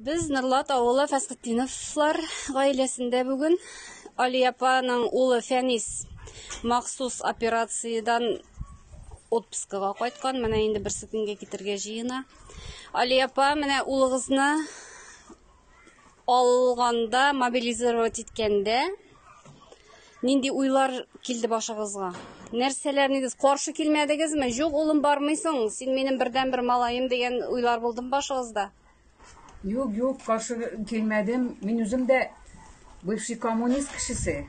Без Норлат авылы Фәсхетдиновлар гаиләсендә бүген Али апаның улы Фәнис махсус операциядән отпускага кайткан. Менә инде берсе көнгә китергә җыена. Али апа, менә улыгызны алганда, мобилизировать иткәндә, Нинди уйлар килде башыгызга? Нәрсәләр нигез каршы килмәдегезме? Юк, улым бармыйсың, син минем бердән бер малаем дигән уйлар булдым башыгызда. Юк, юк, каршы килмәдем. Мин үзем дә бывший коммунист кешесе.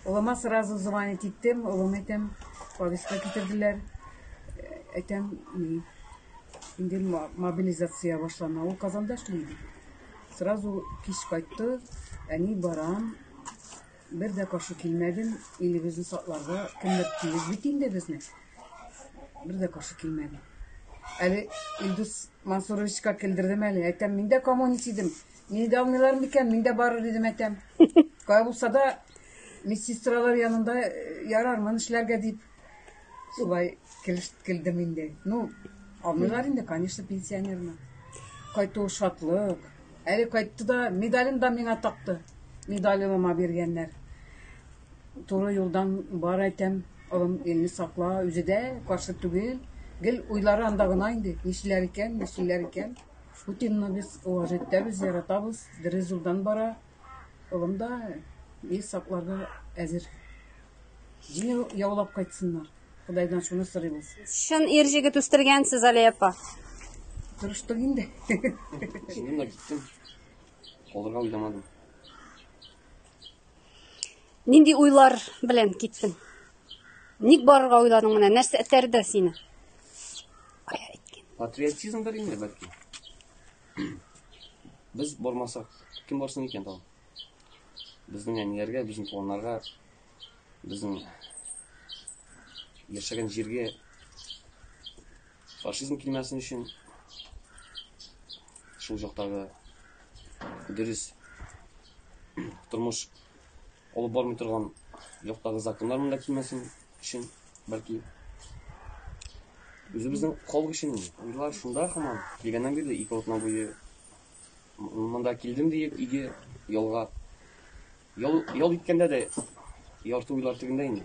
Улыма сразу звонить иттем, улым әйтәм, повестка китерделәр. Әйтәм, инде мобилизация башлана. Ул Казанда эшли. Сразу кич кайтты, әни барам, Бер дә каршы килмәдем, илебезне сакларга кемдер тиеш бит инде безне. Бер дә каршы килмәдем. Әле Илдус Мансуровичка килдердем әле. Әйтәм, мин дә коммунист идем. Мине дә алмыйлар микән? Мин дә барыр идем, әйтәм. Кая булса да медсестралар янында э, ярармын эшләргә дип. Шулай килдем инде. Ну, алмыйлар инде, конечно, пенсионерны. Кайту шатлык. Әле кайтты да, медален да миңа такты. Медалемама биргәннәр. Туры юлдан бар әйтәм, олым елны сакла, үзе дә каршы түгел. Гел уйлары анда гына инде, нишләр икән, нишләр икән. Путинны без уважать итәбез, яратабыз, дөрес юлдан бара. Олым да ел сакларга әзер. Җиңел яулап кайтсыннар. Ходайдан шуны сорыйбыз. Чын ир җигет үстергәнсез, Алия апа. Тырыштык инде. Шуннан да киттем. Калырга уйламадым. Нинди уйлар белән киттең? Ник барырга уйладың менә? Нәрсә этәрде сине? Кая иткән? Патриотизм бер инде бәлки. Без бармасак, кем барсын икән тагын? Безнең әниләргә, безнең туганнарга, безнең Яшәгән җиргә фашизм килмәсен өчен шул жактагы дөрес тормыш алып бармый торган жактагы законнар монда килмәсен өчен бәлки үзебезнең халык өчен уйлар шунда һаман килгәннән бирле ике атна буе Монда килдем диеп, иге ялга ял ял иткәндә дә ярты уйлар төбендә инде.